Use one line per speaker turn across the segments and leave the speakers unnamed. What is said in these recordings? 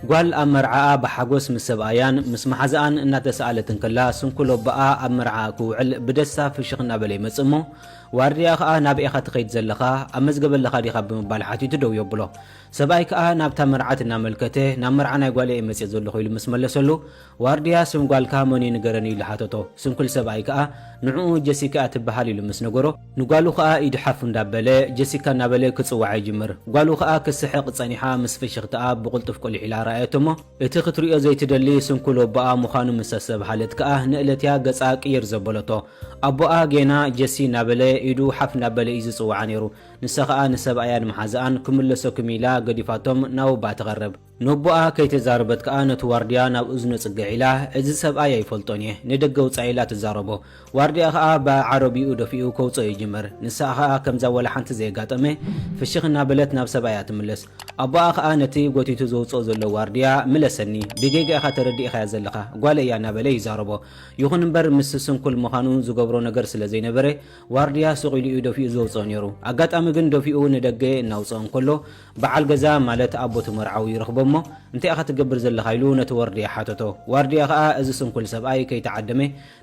ጓል ኣብ መርዓኣ ብሓጎስ ምስ ሰብኣያን ምስ መሓዝኣን እናተሰኣለት እንከላ ስንኩል ኣቦኣ ኣብ መርዓኣ ክውዕል ብደስታ ፍሽኽ እናበለ ይመጽእ እሞ ዋርድያ ከኣ ናበይ ኢኻ ትኸይድ ዘለኻ ኣብ መዝገበ ኣለኻ ዲኻ ብምባል ሓቲቱ ደው የብሎ ሰብኣይ ከኣ ናብታ መርዓት እናመልከተ ናብ መርዓ ናይ ጓለይ እየ መጽየ ዘለኹ ኢሉ ምስ መለሰሉ ዋርድያ ስም ጓልካ መን'ዩ ንገረኒ ኢሉ ሓተቶ። ስንኩል ሰብኣይ ከኣ ንዕኡ ጀሲካ'ያ ትበሃል ኢሉ ምስ ነገሮ፣ ንጓሉ ከኣ ኢዱ ሓፍ እንዳበለ ጀሲካ እናበለ ክጽውዓ ይጅምር። ጓሉ ከኣ ክትስሕቕ ጸኒሓ ምስ ፍሽኽታኣ ብቕልጡፍ ቁሊሕ ኢላ ረኣየቶ'ሞ፣ እቲ ክትርእዮ ዘይትደሊ ስንኩል ወቦኣ ምዃኑ ምስ ኣስተብሃለት ከኣ ንእለት'ያ ገጻ ቅይር ዘበለቶ። ኣቦኣ ጌና ጀሲ እናበለ ኢዱ ሓፍ እንዳበለ'ዩ ዝጽውዓ ነይሩ። ንሳ ከኣ ንሰብኣያን መሓዛኣን ክምለሰኩም ኢላ ገዲፋቶም ናብ ኣቦኣ ትቐርብ። ነቦኣ ከይተዛረበት ከኣ ነቲ ዋርድያ ናብ እዝኑ ጽግዕ ኢላ፣ እዚ ሰብኣይ ኣይፈልጦን እየ፣ ንደገ ውጻእ ኢላ ትዛረቦ። ዋርድያ ከኣ ብዓረብይኡ ደፊኡ ከውጽኦ ይጅምር። ንሳ ከኣ ከምዛ ወላ ሓንቲ ዘየጋጠመ ፍሽኽ እናበለት ናብ ሰብኣያ ትምለስ። ኣቦኣ ከኣ ነቲ ጎቲቱ ዘውጽኦ ዘሎ ዋርድያ፣ ምለሰኒ፣ ብጌጋ ኢኻ ተረዲእኻያ ዘለኻ፣ ጓለይ እያ እናበለ ይዛረቦ። ይኹን እምበር ምስ ስንኩል ምዃኑ ዝገብሮ ነገር ስለ ዘይነበረ፣ ዋርድያ ሱቕ ኢሉ እዩ ደፊኡ ዘውጽኦ ነይሩ። ኣጋጣሚ ግን ደፊኡ ንደገ እናውጽኦ እንከሎ፣ በዓል ገዛ ማለት ኣቦ'ቲ መርዓዊ ይረኽቦ'ሞ፣ እንታይ ኢኻ ትገብር ዘለኻ? ኢሉ ነቲ ዋርድያ ሓተቶ። ዋርድያ ከኣ እዚ ስንኩል ሰብኣይ ከይተዓደመ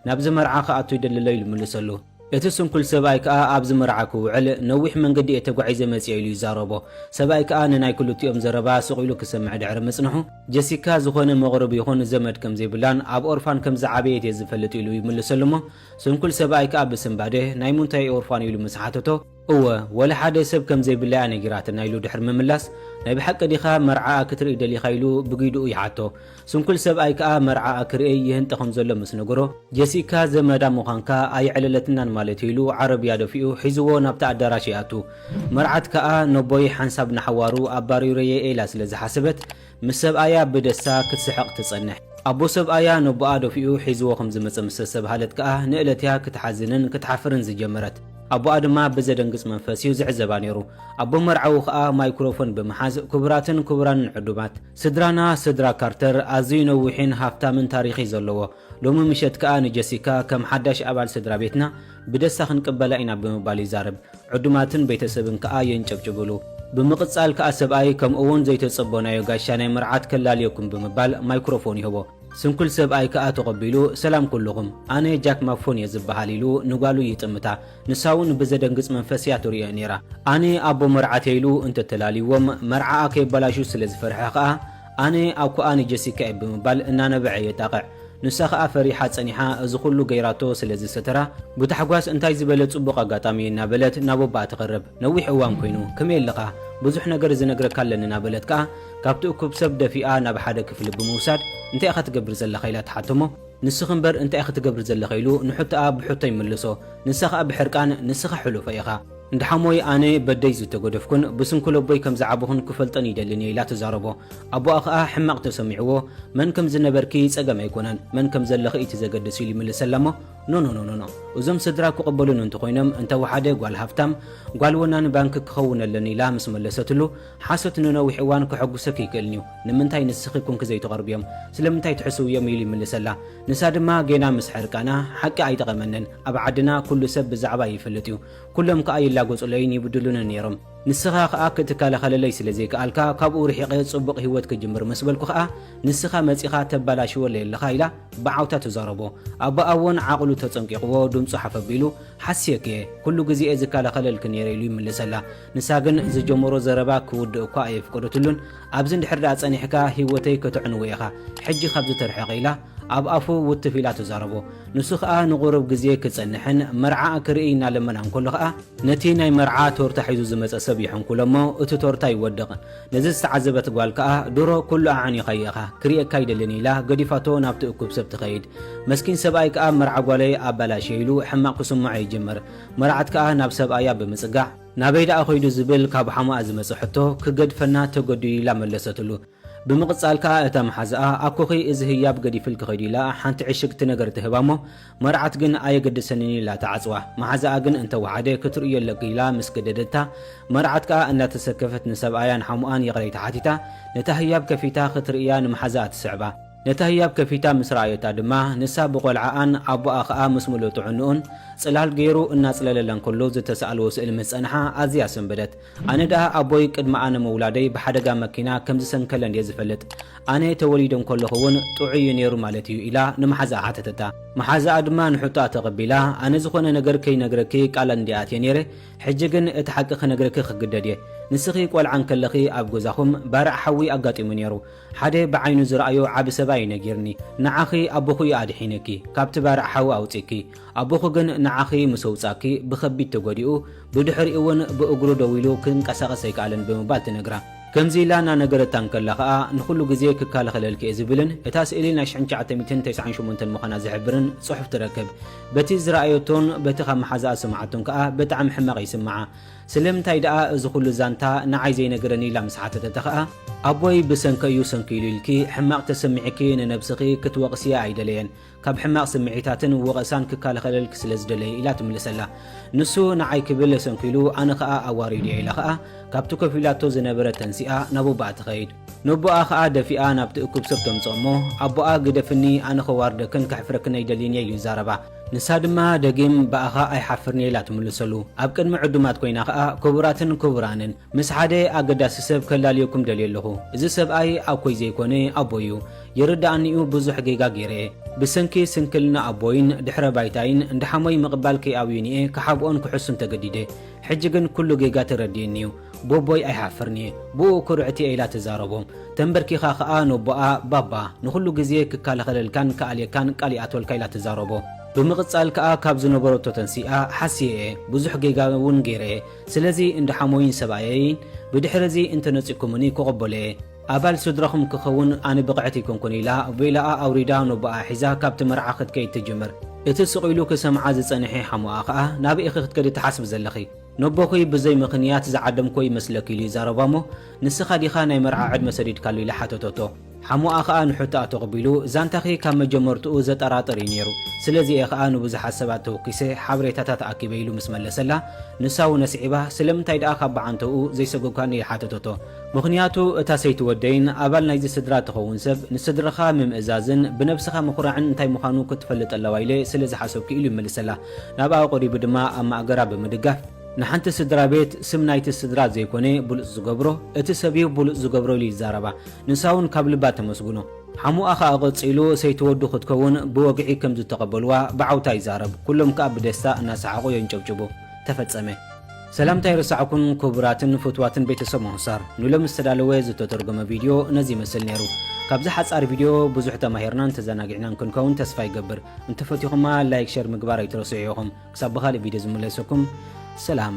ናብዚ መርዓ ክኣቱ ይደሊ'ሎ ኢሉ መለሰሉ። እቲ ስንኩል ሰብኣይ ከኣ ኣብዚ መርዓ ክውዕል ነዊሕ መንገዲ እየ ተጓዒዘ መጺኤ ኢሉ ይዛረቦ። ሰብኣይ ከኣ ንናይ ክልቲኦም ዘረባ ስቕ ኢሉ ክሰምዕ ድሕሪ ምጽንሑ፣ ጀሲካ ዝኾነ መቕርብ ይኹን ዘመድ ከም ዘይብላን ኣብ ኦርፋን ከም ዝዓበየት እየ ዝፈልጥ ኢሉ ይምልሰሉ'ሞ፣ ስንኩል ሰብኣይ ከኣ ብስንባደ፣ ናይ ሙንታይ ኦርፋን ኢሉ ምስ ሓተቶ፣ እወ ወላ ሓደ ሰብ ከም ዘይብላ እያ ነጊራትና ኢሉ ድሕሪ ምምላስ፣ ናይ ብሓቂ ዲኻ መርዓኣ ክትርኢ ደሊኻ ኢሉ ብጊዱኡ ይሓቶ። ስንኩል ሰብኣይ ከኣ መርዓኣ ክርእይ ይህንጠ ከም ዘሎ ምስ ነገሮ፣ ጀሲካ ዘመዳ ምዃንካ ኣየዕለለትናን ማለት እዩ ኢሉ ዓረብያ ደፊኡ ሒዝዎ ናብቲ ኣዳራሽ ይኣቱ። መርዓት ከኣ ነቦይ ሓንሳብ ንሓዋሩ ኣባሪረ'የ ኢላ ስለ ዝሓሰበት፣ ምስ ሰብኣያ ብደስታ ክትስሕቕ ትጸንሕ። ኣቦ ሰብኣያ ነቦኣ ደፊኡ ሒዝዎ ከም ዝመጸ ምስ ኣስተብሃለት ከኣ ንእለት'ያ ክትሓዝንን ክትሓፍርን ዝጀመረት። ኣቦኣ ድማ ብዘደንግጽ መንፈስ'ዩ ዝዕዘባ ነይሩ። ኣቦ መርዓዊ ከኣ ማይክሮፎን ብምሓዝ፣ ክቡራትን ክቡራንን ዕዱማት! ስድራና ስድራ ካርተር ኣዝዩ ነዊሕን ሃፍታምን ታሪኽ'ዩ ዘለዎ። ሎሚ ምሸት ከኣ ንጀሲካ ከም ሓዳሽ ኣባል ስድራ ቤትና ብደስታ ክንቅበላ ኢና ብምባል ይዛረብ። ዕዱማትን ቤተሰብን ከኣ የንጨብጭብሉ። ብምቕጻል ከኣ ሰብኣይ ከምኡ'ውን ዘይተጸበናዮ ጋሻ ናይ መርዓት ከላልየኩም ብምባል ማይክሮፎን ይህቦ። ስንኩል ሰብኣይ ከኣ ተቐቢሉ ሰላም ኩሉኹም፣ ኣነ ጃክ ማክፎን እየ ዝበሃል ኢሉ ንጓሉ ይጥምታ። ንሳ'ውን ብዘደንግጽ መንፈስ እያ ትርእዮ ነይራ። ኣነ ኣቦ መርዓት እየ ኢሉ እንተተላልይዎም መርዓኣ ከየበላሹ ስለ ዝፈርሐ ከኣ ኣነ ኣኩኣ ንጀሲካ እየ ብምባል እናነበዐ የጣቕዕ። ንሳ ከኣ ፈሪሓ ጸኒሓ እዚ ኩሉ ገይራቶ ስለ ዝሰተራ ብታሕጓስ እንታይ ዝበለ ጽቡቕ ኣጋጣሚ እዩ እናበለት ናብ ኣቦኣ ትቐርብ። ነዊሕ እዋን ኮይኑ ከመይ ኣለኻ ብዙሕ ነገር ዝነግረካ ኣለኒ ናበለት ከኣ ካብቲ እኩብ ሰብ ደፊኣ ናብ ሓደ ክፍሊ ብምውሳድ እንታይ ኢኻ ትገብር ዘለኻ ኢላ ትሓቶሞ ንስኺ እምበር እንታይ ኢኺ ትገብሪ ዘለኺ ኢሉ ንሕቶኣ ብሕቶ ይምልሶ ንሳ ከኣ ብሕርቃን ንስኻ ሕሉፈይ ኢኻ እንዳ ሓሞይ ኣነ በደይ ዝተገደፍኩን ብስንኩል ኣቦይ ከም ዝዓበኹን ክፈልጠን ይደልን እየ ኢላ ትዛረቦ። ኣቦኣ ከኣ ሕማቕ ተሰሚዕዎ መን ከም ዝነበርኪ ጸገም ኣይኮነን መን ከም ዘለኺ እዩ እቲ ዘገድስ ኢሉ ይምልሰላ እሞ ኖኖኖኖኖ እዞም ስድራ ክቕበሉኒ እንተኾይኖም እንተወሓደ ጓል ሃብታም ጓል ወናኒ ባንኪ ክኸውን ኣለኒ ኢላ ምስ መለሰትሉ ሓሶት ንነዊሕ እዋን ከሐጉሰኪ ይክእልን እዩ ንምንታይ ንስኺ ኮንኪ ዘይተቐርብዮም ስለምንታይ ትሕስውዮም ኢሉ ይምልሰላ ንሳ ድማ ጌና ምስ ሕርቃና ሓቂ ኣይጠቐመንን ኣብ ዓድና ኩሉ ሰብ ብዛዕባይ ይፈልጥ እዩ ኩሎም ከኣ ይላገጹለይን ይብድሉንን ነይሮም። ንስኻ ከኣ ክትከላኸለለይ ስለ ዘይከኣልካ ካብኡ ርሒቐ ጽቡቕ ህይወት ክጅምር ምስ በልኩ ከኣ ንስኻ መጺኻ ተባላሽወለይ ኣለኻ ኢላ ብዓውታ ትዛረቦ። ኣቦኣ'ውን ዓቕሉ ተጸንቂቕዎ ድምጹ ሓፍ ኣቢሉ ሓስየኪ'የ ኩሉ ግዜ'የ ዝከላኸለልኪ ነይረ ኢሉ ይምልሰላ። ንሳ ግን ዝጀመሮ ዘረባ ክውድእ'ኳ ኣየፍቀደትሉን። ኣብዚ እንድሕር ደኣ ጸኒሕካ ህይወተይ ከተዕንዎ ኢኻ ሕጂ ካብዚ ተርሕቕ ኢላ ኣብ ኣፉ ውትፍ ኢላ ትዛረቦ። ንሱ ከኣ ንቑሩብ ግዜ ክጸንሕን መርዓኣ ክርኢ እናለመና እንከሎ ከኣ ነቲ ናይ መርዓ ቶርታ ሒዙ ዝመጸ ሰብ ይሕንኩሎ እሞ እቲ ቶርታ ይወድቕ። ነዚ ዝተዓዘበት ጓል ከኣ ድሮ ኩሉ ኣዕኒኻዮ ኢኻ ክርእየካ ኣይደልን ኢላ ገዲፋቶ ናብቲ እኩብ ሰብ ትኸይድ። መስኪን ሰብኣይ ከኣ መርዓ ጓለይ ኣበላሽየ ኢሉ ሕማቕ ክስምዖ ይጅምር። መርዓት ከኣ ናብ ሰብኣያ ብምጽጋዕ። ናበይ ደኣ ከይዱ ዝብል ካብ ሓሙኣ ዝመጸ ሕቶ ክገድፈና ተገዲዱ ኢላ መለሰትሉ። ብምቕጻል ከኣ እታ መሓዛኣ ኣኮኺ እዚ ህያብ ገዲፍልኪ ኺዲ ኢላ ሓንቲ ዕሽግቲ ነገር ትህባ እሞ መርዓት ግን ኣየገድሰንን ኢላ ትዓጽዋ። መሓዛኣ ግን እንተ ወሓደ ክትርእዮ ኣለኪ ኢላ ምስ ገደደታ መርዓት ከኣ እንዳተሰከፈት ንሰብኣያን ሓሙኣን ይቕሬታ ሓቲታ ነታ ህያብ ከፊታ ክትርእያ ንመሓዛኣ ትስዕባ። ነታ ህያብ ከፊታ ምስ ረኣየታ ድማ ንሳ ብቖልዓኣን ኣቡኣ ከኣ ምስ ምሉእ ጥዕንኡን ጽላል ገይሩ እናጽለለላን ከሎ ዝተሳእልዎ ስእሊ ምስ ጸንሓ ኣዝያ ሰንበደት። ኣነ ደኣ ኣቦይ ቅድሚ ኣነ ምውላደይ ብሓደጋ መኪና ከም ዝሰንከለን እየ ዝፈልጥ። ኣነ ተወሊደ እንከለኹ እውን ጥዑይ እዩ ነይሩ ማለት እዩ ኢላ ንመሓዛኣ ሓተተታ። መሓዛኣ ድማ ንሕቶኣ ተቐቢላ፣ ኣነ ዝዀነ ነገር ከይነግረኪ ቃል እንድየ ኣትየ ነይረ፣ ሕጂ ግን እቲ ሓቂ ክነግረኪ ክግደድ እየ። ንስኺ ቈልዓ እንከለኺ ኣብ ገዛኹም ባርዕ ሓዊ ኣጋጢሙ ነይሩ። ሓደ ብዓይኑ ዝረኣዮ ዓቢ ሰብኣይ እዩ ነጊርኒ። ንዓኺ ኣቦኺ እዩ ኣድሒኑኪ፣ ካብቲ ባርዕ ሓዊ ኣውጺኡኪ። ኣቦኺ ግን ንዓኺ ምስ ኣውጻኪ ብኸቢድ ተጎዲኡ፣ ብድሕሪኡ'ውን ብእግሩ ደው ኢሉ ክንቀሳቐስ ኣይከኣለን ብምባል ትነግራ። ከምዚ ኢላ እናነገረታ እንከላ ከኣ ንኹሉ ግዜ ክከላኸለልኪ እየ ዝብልን እታ ስእሊ ናይ ሽሕን ትሽዓተ ሚእትን ተስዓን ሸሞንተን ምዃና ዝሕብርን ጽሑፍ ትረክብ። በቲ ዝረኣየቶን በቲ ካብ መሓዛኣ ዝሰምዓቶን ከኣ ብጣዕሚ ሕማቕ ይስምዓ። ስለምንታይ ደኣ እዚ ኹሉ ዛንታ ንዓይ ዘይነገረኒ ኢላ ምስ ሓተተታ ከኣ፣ ኣቦይ ብሰንኪ እዩ ሰንኪሉ ኢልኪ ሕማቕ ተሰሚዕኪ ንነብስኺ ክትወቕስያ ኣይደለየን። ካብ ሕማቕ ስምዒታትን ወቐሳን ክከላኸለልኪ ስለ ዝደለየ ኢላ ትምልሰላ። ንሱ ንዓይ ክብል ሰንኪሉ ኣነ ከኣ ኣዋሪዱዮ ኢላ ከኣ ካብቲ ኮፍ ኢላቶ ዝነበረት ተንሲኣ ናብ ኣቦኣ ትኸይድ። ነቦኣ ከኣ ደፊኣ ናብቲ እኩብ ሰብ ተምጽኦ እሞ ኣቦኣ ግደፍኒ ኣነ ከዋርደክን ከሕፍረክን ኣይደልይንየ ኢሉ ይዛረባ። ንሳ ድማ ደጊም ብኣኻ ኣይሓፍርንየ ኢላ ትምልሰሉ። ኣብ ቅድሚ ዕዱማት ኮይና ከኣ ክቡራትን ክቡራንን! ምስ ሓደ ኣገዳሲ ሰብ ከላልየኩም ደልየ ኣለኹ እዚ ሰብኣይ ኣኮይ ዘይኮነ ኣቦይ እዩ ይርደኣኒ እዩ ብዙሕ ጌጋ ጌረ እየ ብሰንኪ ስንክልና ኣቦይን ድሕረ ባይታይን እንዳ ሓሞይ ምቕባል ከይኣብዩኒ እየ ክሓብኦን ክሕሱን ተገዲደ ሕጂ ግን ኩሉ ጌጋ ተረዲእኒ እዩ ቦቦይ ኣይሓፍርን እየ ብኡ ኩርዕት እየ ኢላ ትዛረቦም ተንበርኪኻ ከኣ ነቦኣ ባባ ንኹሉ ግዜ ክካላኸለልካን ክኣልየካን ቃል ይኣትወልካ ኢላ ትዛረቦ ብምቕጻል ከኣ ካብ ዝነበረቶ ተንሲኣ ሓስየ እየ ብዙሕ ጌጋ እውን ጌረ እየ ስለዚ እንዳ ሓሞይን ሰብኣየይን ብድሕሪ እዚ እንተ ነጺኩምኒ ክቕበሎ'የ። ኣባል ስድራኹም ክኸውን ኣነ ብቕዕቲ ኣይኮንኩን ኢላ ቬላኣ ኣውሪዳ ነቦኣ ሒዛ ካብቲ መርዓ ክትከይድ ትጅምር። እቲ ስቕ ኢሉ ክሰምዓ ዝጸንሔ ሓሞኣ ከኣ ናበይ ኢኺ ክትከዲ ትሓስቢ ዘለኺ? ነቦኺ ብዘይ ምኽንያት ዝዓደምክዎ ይመስለኪ ኢሉ ይዛረባ'ሞ ንስኻ ዲኻ ናይ መርዓ ዕድመ ሰዲድካሉ ኢላ ሓተተቶ። ሓሙኣ ከኣ ንሑታኣ ተቕቢሉ፣ ዛንታኺ ካብ መጀመርትኡ ዘጠራጥር እዩ ነይሩ፣ ስለዚ እየ ከኣ ንብዙሓት ሰባት ተወኪሰ ሓበሬታታት ኣኪበ ኢሉ ምስ መለሰላ፣ ንሳውን ኣስዒባ፣ ስለምንታይ ደኣ ካብ ብዓንተኡ ዘይሰጎግካኒ ኢላ ሓተተቶ። ምኽንያቱ እታ ሰይቲ ወደይን ኣባል ናይዚ ስድራ እትኸውን ሰብ፣ ንስድራኻ ምምእዛዝን ብነብስኻ ምኹራዕን እንታይ ምዃኑ ክትፈልጥ ኣለዋ ኢለ ስለ ዝሓሰብኩ ኢሉ ይመልሰላ። ናብኣ ቀሪቡ ድማ ኣብ ማእገራ ብምድጋፍ፣ ንሓንቲ ስድራቤት ስም ናይቲ ስድራ ዘይኮነ ብሉጽ ዝገብሮ፣ እቲ ሰብ'ዩ ብሉጽ ዝገብሮ ኢሉ ይዛረባ። ንሳውን ካብ ልባ ተመስግኖ። ሓሙኣ ከኣ ቀጺሉ ሰይቲ ወዱ ክትከውን ብወግዒ ከም ዝተቐበሉዋ ብዓውታ ይዛረብ። ኩሎም ከኣ ብደስታ እናሰሓቑ የንጨብጭቡ። ተፈጸመ። ሰላምታ ኣይረሳዕኩን ክቡራትን ፍትዋትን ቤተሰብ ሞሆሳር። ንሎሚ ዝተዳለወ ዝተተርጎመ ቪድዮ ነዚ ይመስል ነይሩ። ካብዚ ሓጻር ቪድዮ ብዙሕ ተማሂርናን ተዘናጊዕናን ክንከውን ተስፋ ይገብር። እንተፈቲኹማ ላይክ ሸር ምግባር ኣይትረስዑ ኢኹም። ክሳብ ብኻልእ ቪድዮ ዝምለሰኩም ሰላም።